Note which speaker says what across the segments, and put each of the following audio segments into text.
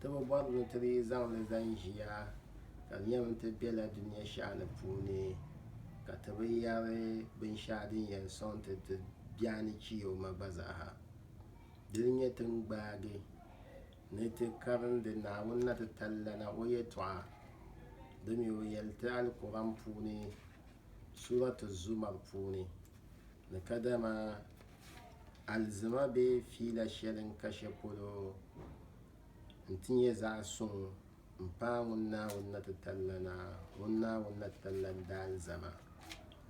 Speaker 1: Ti bi bɔri ni ti dii zaŋ li zani ʒiya, ka di nyɛmi ti bela dunia shɛhi ni puuni, ka ti bi yɛri binshɛɣu din yɛn sɔŋ ti ti biɛhi ni chiyoma gba zaaha. Dini nyɛ ti ni gbaagi ni ti karindi Naawuni na ti tallana O yɛtɔɣa di mi O yɛli ti Alikuran puuni Surat Az-Zumar puuni ni kadama alizima bee fiila shɛli n-ka shɛpolo nti nyɛ zaɣ suŋ m-paai ŋun Naawuni na ti talila na, ŋun Naawuni na ti talila n-di alizama.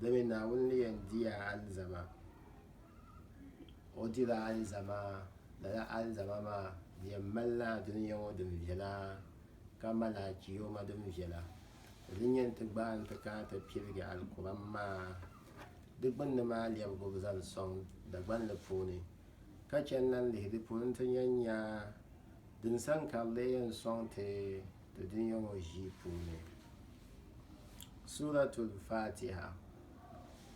Speaker 1: Dama Naawuni ni yɛn di ya alizama, O dila alizama, lala alizama maa di yɛn malila Dunia ŋɔ din viɛla, ka mali Alchioma din viɛla. Di ni yɛn ti gbaai nti kana ti piligi Alikuram maa di gbunni maa lɛbigu zaŋ sɔŋ Dagbani puuni. ka chɛ n-lan lihi di polo nti nya n-nya din sani ka di lee yɛn sɔŋ ti di dunia ŋɔ ʒii puuni. Suuratul Faatiha,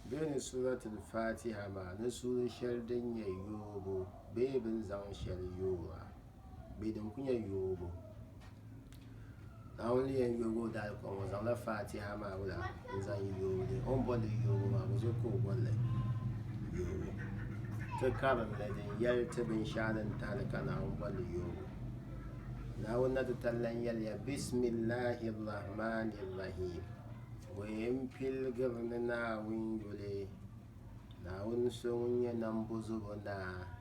Speaker 1: Bee ni Suuratul Faatiha maa ni suuri shɛli din nyɛ yoobu bee bɛ ni zaŋ shɛli yoora. bee din kuli nyɛ yoobu Naawuni ni yɛn yooi o daali kom o zaŋla faatiha maa wula n zaŋ yooi li o ni bolili yoobu maa buzo ka o bolili yoobu ti karimli din yɛli ti binshaɣu din tahali ka Naawuni bolili yoobu Naawuni na ti tali lan yɛliya bisimillahi rahmani rahim bɔyɛ n piligiri ni Naawuni yuli Naawuni so ŋun nyɛ nambozobo naa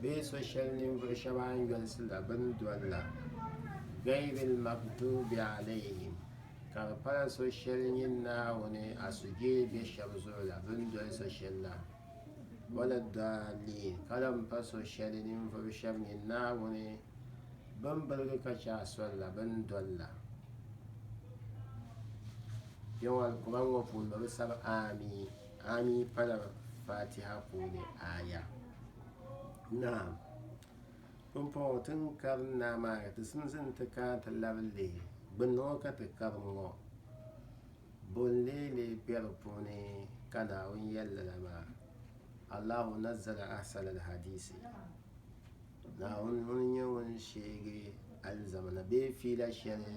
Speaker 1: bee so shɛli ninvuɣ shɛba a ni yolisi la bɛ ni doli la, Ghayril Maghdubi Alayhim, ka di pala so shɛli nyɛ Naawuni a sujee be shɛba zuɣu la bɛ ni doli so shɛli la, wala ddaalliin, ka lahi pa so shɛli ninvuɣ shɛba nyɛ Naawuni bɛn birigi ka chɛ a soli la bɛ ni doli la. Kpɛŋɔ Alkur'aan ŋɔ puuni bɛ bi sabi Aamiin. Aami pala Fatiha puuni aaya. Naam. Pumpɔŋɔ ti ni karim Naa maa ka ti simsi nti kana nti labi leei gbunni ŋɔ ka ti karim ŋɔ, bo n-leei leei be di puuni ka Naawuni yɛli lala maa, Allahu nazzala ahsana al-hadiisi, Naawuni ŋun n-nyɛ ŋun sheegi alizamana bee fiila shɛli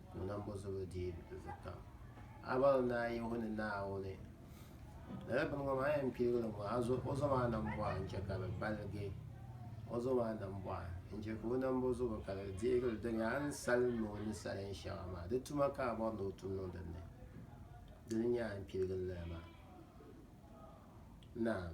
Speaker 1: ni nambozubu dii zukam. Abɔri ni a yihu ni Naawuni, lala bini ŋɔ maa yɛn piligili ŋɔ, a zo o zuɣu maa nambɔɣu n-chɛ ka di baligi o zuɣu maa nambɔɣu n-chɛ ka o nambozubu ka di deegili dɔnya a ni salim ni o ni salim shɛŋa maa. Di tuma ka a bɔri ni o tum niŋ din ni. Dini n-nyɛ a ni piligili lala maa. Naam!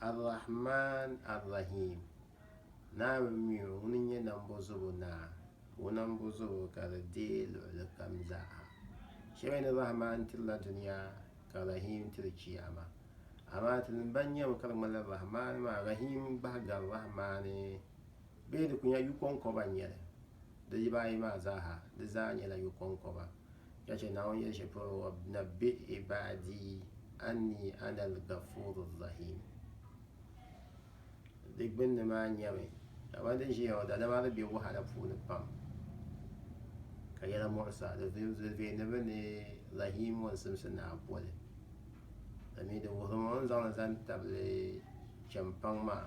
Speaker 1: Ar-Rahmaan Ar-Rahiim, Naawuni mi o ŋuni n-nyɛ Nambɔzobo Naa, ka o nambɔzobo ka di deei luɣili kam zaa. Shɛmiya ni Rahmaan tirila dunia ka Rahiim tiri Chiyaama. Amaa tinim ban nyami ka di ŋmanila Rahmaan maa Rahiim gbahi gari Rahmaani. bee di ku nya yu kɔŋkɔba n-nyɛ li, di yiba ayi maa zaa ha, di zaa nyɛla yu kɔŋkɔba. Ka chɛ Naawuni yɛli shɛli polo, Wabnabbi ibaadi anni ana al-gafuuru rahiim. Di gbunni maa nyɛmi, Kamani din ʒiya ŋɔ, daadama di be wahala puuni pam, ka yɛla muɣisa, di vee ni bɛ ni Rahiim ŋɔ n-simsi naa boli. Di mi di wuhirimi o ni zaŋ li zaŋ tabili chɛmpaŋ maa.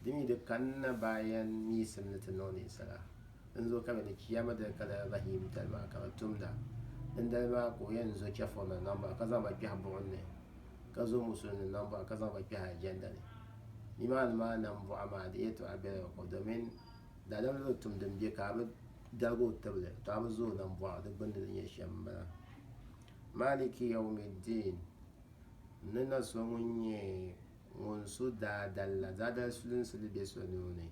Speaker 1: Di mi di kanna bayan miisim ni ti niŋ ninsala n zo ka bɛ ni chiya mi dali ka lala Bahim dali maa ka bɛ tumda. Dindali maa ka o yɛn zo chɛfurina niŋ ba ka zaŋ ba kpɛhi buɣim ni, ka zo musulinima niŋ ba ka zaŋ ba kpɛhi aljɛnda ni. Nimaani maa nambɔɣu maa di yɛtɔɣa bela bɛ ko domin daadamli bi tum din be ka a bi dalig o tibili tɔ a bi zo o nambɔɣu di gbinni ni nyɛ shɛm m-bala. Maliki Yawmiddin, N ni na so ŋun nyɛ ŋun so daadali la, daadali sulinsi li be so nuu ni,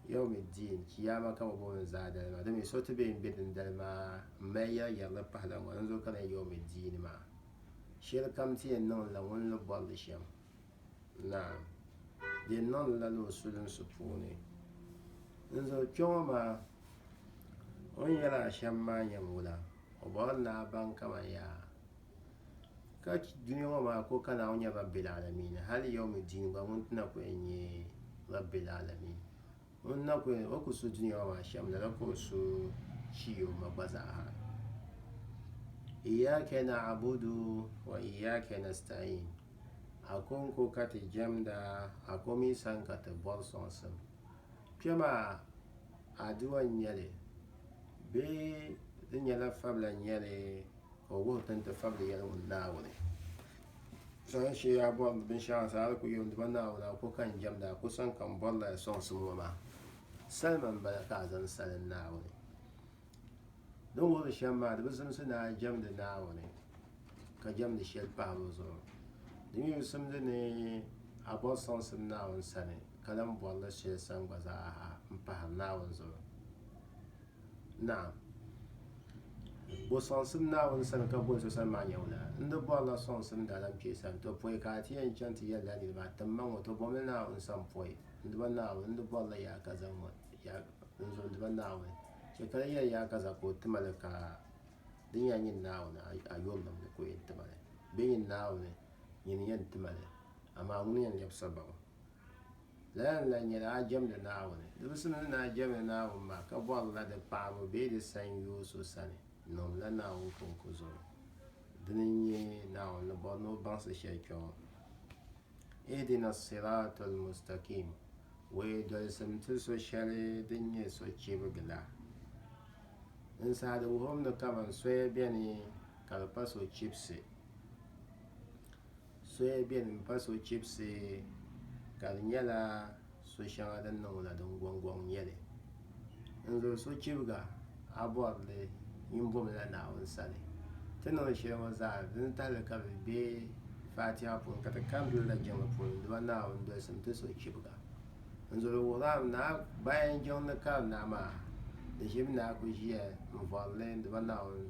Speaker 1: Yawmiddin, Chiyaama ka bɛ booni daadali maa. Dama so ti be m-be dindali maa m-mali yɛriyɛri di pahila ŋɔ ni n-zo kariya Yawmiddin maa. Shɛli kam ti yɛn niŋ li la ŋun ni bɔri li shɛm. Naam! Di yɛn niŋ li la la o sulinsi puuni. N zo kpe ŋɔ maa, o ni yɛl a shɛm maa yɛn wula? O bɔrila ni a baŋ kaman yaa. Ka dunia ŋɔ maa ka o ka Naawuni nyɛ Rabbil Alamin hali yawmi diin gba ŋun ti na ku yɛn nyɛ Rabbil Alamin. Ŋun na ku yɛn, o ku su dunia ŋɔ maa shɛm lala ka o su Chiyoma gba zaa ha. Iyyaka na'budu wa iyyaka nasta'in. Akonko ka ti jɛmda, a ko mi sani ka ti bɔri sɔŋsim. Kpɛ maa adua n-nyɛli bee di nyɛla fabila n-nyɛli? Ka o wuhi ti ni ti fabili yɛli ŋun Naawuni zaŋ shee a bɔri binshɛɣu zaa di ku yom di ba Naawuni a ko ka n jɛmda a ko sani ka n bɔrila ya sɔŋsim ŋɔ maa salima m-bala ka a zaŋ salim Naawuni din wuhiri shɛm maa di bi zimsi ni a jɛmdi Naawuni ka jɛmdi shɛli pahi bɛ zuɣu di mi bi simdi ni a bɔri sɔŋsim Naawuni sani ka lan bɔrila shɛli sani gba zaa ha m-pahiri Naawuni zuɣu Naam. Bo sɔŋsim Naawuni sani ka bo n so sani maa nyɛ wula? N di bɔrila sɔŋsim daalankpee sani, to pɔi ka a ti yɛn chaŋ ti yɛlila niriba, a timma ŋɔ, to bomli Naawuni sani pɔi. N diba Naawuni, n di bɔrila yaa ka zaŋ ŋɔ, ya, n zo, n diba Naawuni. Chɛ ka di yɛli yaa ka za ka o ti ma li ka di nyɛla nyini Naawuni, a, a yurilim ni ka o yɛn ti ma li. Bɛ nyini Naawuni, nyini yɛn ti ma li, amaa ŋuni n-yɛn lɛbi sababu? Lala n-lahi nyɛla a jɛmdi Naawuni. Di bi simdi ni a jɛmdi Naawuni maa ka bɔrila di paɣibu bee di sanyoo so sani, niŋdila Naawuni kɔŋko zuɣu. Dini n-nyɛ Naawuni ni bɔri ni o baŋsi shɛli kpe ŋɔ, Ihdina as-sirata al-mustakim, Wee dolisim ti so shɛli din nyɛ sochibigi la. Dinsaha di wuhiri ni kaman soya beni ka di pa sochibisi. Soya beni m-pa sochibisi ka di nyɛla so'shɛŋa din niŋ la din gɔŋgɔŋ n-nyɛ li. N zuli sochibiga, a bɔri li nyin bomi la Naawuni sani. Ti ni o shɛli ŋɔ zaa, di ni tahili ka bɛ be Faatiha puuni ka ti kari doli la jiŋli puuni Duba Naawuni dolisim ti sochibiga. N zuli wuhirahim ni a bayan jiŋ ni kari naa maa, di ʒibu ni a ku ʒiya n-vɔri li Duba Naawuni.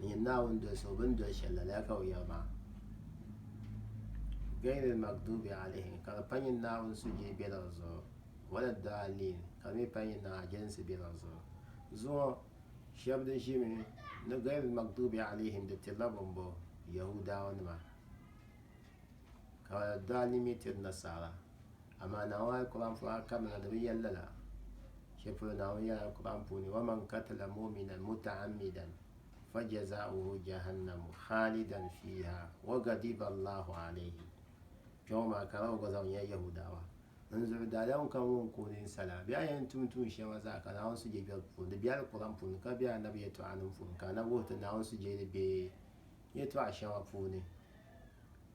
Speaker 1: N yɛn Naawuni doli so bɛ ni doli shɛli la, lala ka o yɛri maa. Gayril maghdubi alayhim, ka di pa nyini Naawuni suhudee bela di zuɣu, wala ddaalliin, ka di mi pa nyini Naawuni jɛlinsi bela di zuɣu. Zuŋɔ, shɛb di ʒimi ni gayril maghdubi alayhim di tirila bambo? Yahuudaawanima. Ka wala ddaalliin mi tiri nasaara. Amaa Naawuni a yi kɔba puuni a kabina di bi yɛli lala. Shɛli polo Naawuni yɛli a kɔba puuni, Wa man katila mu'minan muta'ammidan fa jazaa'uhu jahannamu khaalidan fiiha wa ghadiba Allahu alayhi. Kpɛŋɔ maa ka a gba zaŋ nya Yahudawa n zuɣu daadam kam ŋun ku nini sa la. Bɛ a yɛn tum tuun shɛli maa zaa ka Naawuni sujegbɛbu puuni, di be alikɔba puuni ka be Annabi yɛtɔɣanim puuni ka Annabi wuhi ti Naawuni sujeeli be yɛtɔɣa shɛŋa puuni.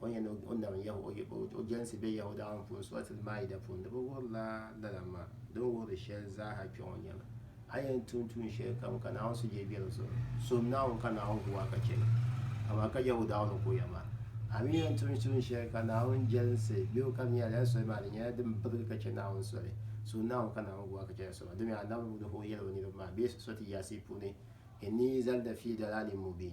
Speaker 1: o ni yɛn ni o nam Yahuwah o jɛlinsi be Yahuwah daaŋ puuni Suratul Maida puuni di bi wuhirila lala maa di ni wuhiri shɛli zaaha kpɛ ŋɔ nyɛla a yɛn tum tuun shɛli kam ka Naawuni suhudee be di zuɣu sum Naawuni ka Naawuni gu a ka chɛli amaa ka Yahuwah daaŋ ni kuriya maa a mi yɛn tum tuun shɛli ka Naawuni jɛlinsi be o kam nyɛla lala soli maa di nyɛla din birigi ka chɛ Naawuni soli sum Naawuni ka Naawuni gu a ka chɛli soli domi a nam ni o yɛli o niriba maa bee Surati Yaasi puuni inni zalda fi dalalin mubin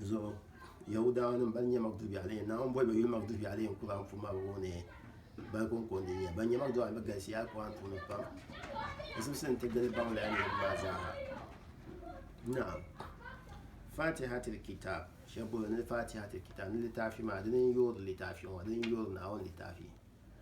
Speaker 1: zuɣu Yɛhudianim ban nyɛ Magdubi alayhim Naawuni boli ba yuli Magdubi alayhim Kur'an puuni maa bi wuhi ni bali kɔŋkɔndi n-nyɛ ban nyɛ Magdubi alayhim bɛ galisiya Kur'an puuni pam bɛ zibisi n-ti gili baŋlaya niriba maa zaaha naam fatihatil kitab shɛba boli ni fatihatil kitab ni litaafi maa dini n-yoori litaafi ŋɔ dini n-yoori Naawuni litaafi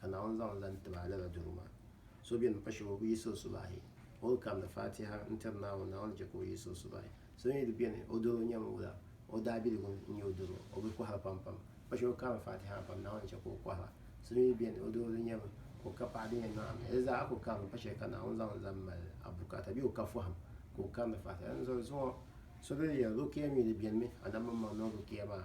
Speaker 1: ka Naawuni zaŋ lan ti ba lala doro maa. So beni m-pa shɛba o bi yiɣisi o subahi, o ni kamdi Faatiha n-tiri Naawuni, Naawuni chɛ ka o yiɣisi o subahi. So mi di beni, o doro nyɛmi wula, o daabiligu n-nyɛ o doro, o bi kɔhira pampam. Pa shɛba kaami Faatiha pam, Naawuni chɛ ka o kɔhira. So mi di beni, o doro di nyɛmi ka o ka paɣa din yɛn niŋ a ni. Di zaa a ku kaami pa shɛli ka Naawuni zaŋ lan mali a bukaata bee o ka fɔhim ka o kamdi Faatiha. Dinzuɣu zuŋɔ so bɛ ni yɛli rukia mi di benimi, a nam mini ma niŋ rukia maa.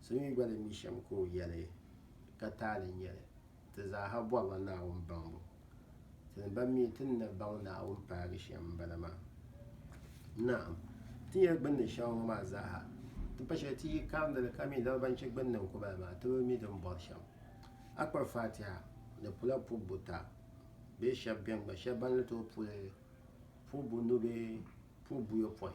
Speaker 1: So mi gba ni mi shɛm ka o yɛli ka taali n-nyɛ li. Ti zaaha bɔrila Naawuni baŋbu. Ti ni ban mi ti ni na baŋ Naawuni paagi shɛm m-bala maa. Naam, ti nyɛla gbunni shɛŋa ŋɔ maa zaaha, ti pa shɛli ti yi karindi li ka mi lala ban chɛ gbunni n-ku ba la maa, ti bi mi din bɔri shɛm. A kpa Fatiha ni pula pubu buta bee shɛb beni gba shɛb ban ni tooi pu li pubu bunu bee pubu buyopɔin.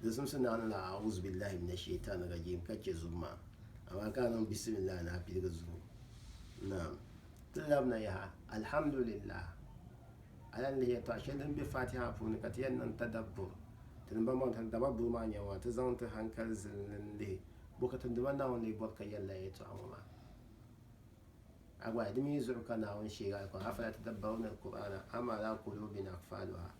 Speaker 1: Di zimsi ni a ni lahi A'uzubillahi mina Shaytani Rajeem ka che zubu maa, amaa ka a niŋ Bisimillahi ni a piligi zubu. Naam. Ti labina yaha, Alhamdulillah. A lahi lihi yɛltɔɣa shɛli din be Faatiha puuni ka ti yɛn niŋ tadabbur, ti ni bɔŋbɔŋ hali dababbur maa nyɛbu maa, ti zaŋ ti hankali zili li n-lihi Buɣitim Duma Naawuni lee bɔri ka yɛlila yɛltɔɣa ŋɔ maa. A gba, di mi zuɣu ka Naawuni sheegi a kom, Afala tadabbaruna al-Kur'ana am ala kulubin akfaluha.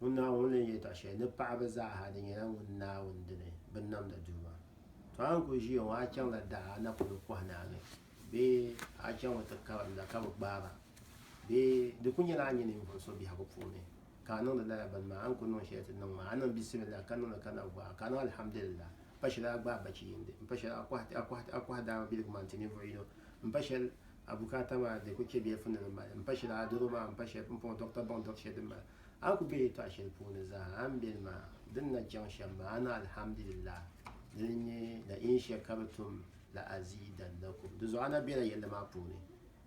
Speaker 1: Ŋun Naawuni ni yɛltɔɣ shɛli ni paɣiba zaaha di nyɛla ŋun Naawuni dini binnamda Duuma. Tɔ a ni kuli ʒiya ŋɔ a chaŋla daa a na polo kɔhi naa ni bee a chaŋmi ti karimda ka bi gbaai ba bee di kuli nyɛla a nyɛ ninvuɣ so biɛhigu puuni ka a niŋdi lala bini maa a ni kuli niŋ shɛli ti niŋ maa a niŋ bisimilla ka niŋli ka na vɔra ka a niŋ alhamdulillah pa shɛli a gbaai bachiyindi m-pa shɛli a kɔhi daa biligu maa n-ti ninvuɣ yino m-pa shɛli a bukaata maa di kuli chɛ bilifu ni di mali m-pa shɛli a doro maa m-pa shɛli pumpɔŋɔ dɔɣita baŋ dɔɣi shɛli din mali A ku be yɛtɔɣ shɛli puuni zaa a ni beni maa, di ni na chaŋ shɛm maa, a ni Alhamdulillah, di ni nyɛ na'iin shɛli ka bɛ tum la aziidannakum. Dinzuɣu a na bela yɛlli maa puuni.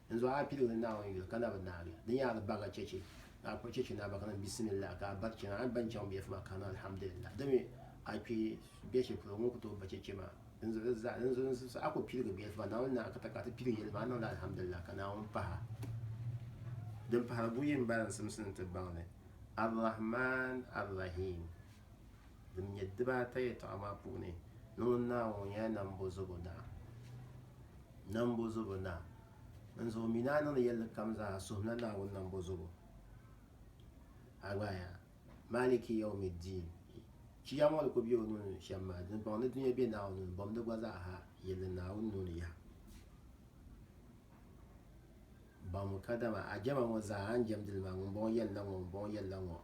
Speaker 1: Dinzuɣu a piligiri Naawuni yuli ka na bi naagi. Di nyaari baga chɛchɛ ka a kpuɣi chɛchɛ ni a ba ka niŋ Bisimillahi ka a bari chana. A ni ba ni chaŋ biɛfu maa ka a niŋ Alhamdulillah. Dimi a kpe biɛshɛli polo ŋun ku tooi ba chɛchɛ maa? N zusaɣa ku piligi bɛ yɛlimaŋli Naawuni ni a ka ta ka a ti piligi yɛli maa a niŋla alhamdulillah ka Naawuni pahi a. Din pahiri buyi m-bala n simsi ni ti baŋ li, Ar-Rahman Ar-Rahim. Din nyɛ dibaata yɛtɔɣa maa puuni ni ŋun Naawuni ŋɔ nyɛla Nambɔzobo Naa. Nambɔzobo Naa. N zuɣu mi ni a niŋdi yɛlli kam zaa a suhimla Naawuni Nambɔzobo. A gbaai a. Maliki Yawmiddin, Chiya ŋɔ ni ku be o nuu ni shɛm maa, dimbɔŋɔ ni dunia be Naawuni nuu ni, bɔbindi gba zaa ha yilli Naawuni nuu ni yaha. Baŋmi kadama a jɛma ŋɔ zaa a ni jɛmdi li maa, ŋumbɔŋɔ yɛli la ŋɔ, ŋumbɔŋɔ yɛli la ŋɔ,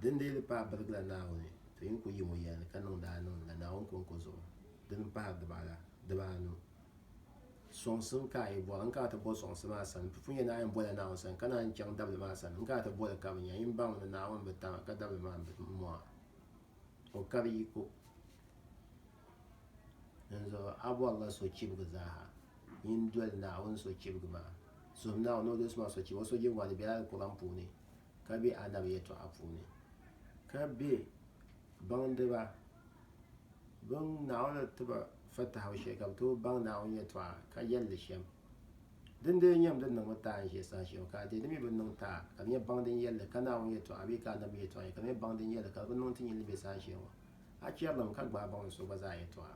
Speaker 1: din dii di paai birigila Naawuni, to yi ni ku yim o yɛlli ka niŋdi a niŋdi la Naawuni kɔŋko zuɣu, dini m-pahiri dibaala, dibaanu. Sɔŋsim ka a yi bɔri, n kana ti bo sɔŋsi maa sani. Ti pun yɛn daa yɛn bola Naawuni sani, ka naanyi chaŋ dabili maa sani. N kana ti boli ka bɛ nya, yin baŋ ni Naawuni bi tam a, ka dabili maa m-bi mɔŋ a. O kari yiko. Dinzuɣu a bɔrila sochibigi zaaha, yin doli Naawuni sochibigi maa. Suhim Naawuni ni o doli so maa sochibigi. O sochibigi maa di bela Alikuran puuni. ka be Adam yɛtɔɣa puuni, ka be baŋdiba bɛn Naawuni ni ti ba fatahibu shɛli ka be tooi baŋ Naawuni yɛtɔɣa ka yɛli li shɛm. Dindee n-nyɛm din niŋmi taai n-ʒe saha shɛm, ka a deei di mi bi niŋ taai ka di nyɛ baŋ din yɛli li ka Naawuni yɛtɔɣa bee ka Annabi yɛtɔɣa nyɛ, ka di nyɛ baŋ din yɛli li ka di bi niŋ ti nyin li be saha shɛŋa. A chɛrilim ka gbaai baŋdi so gba zaa yɛtɔɣa.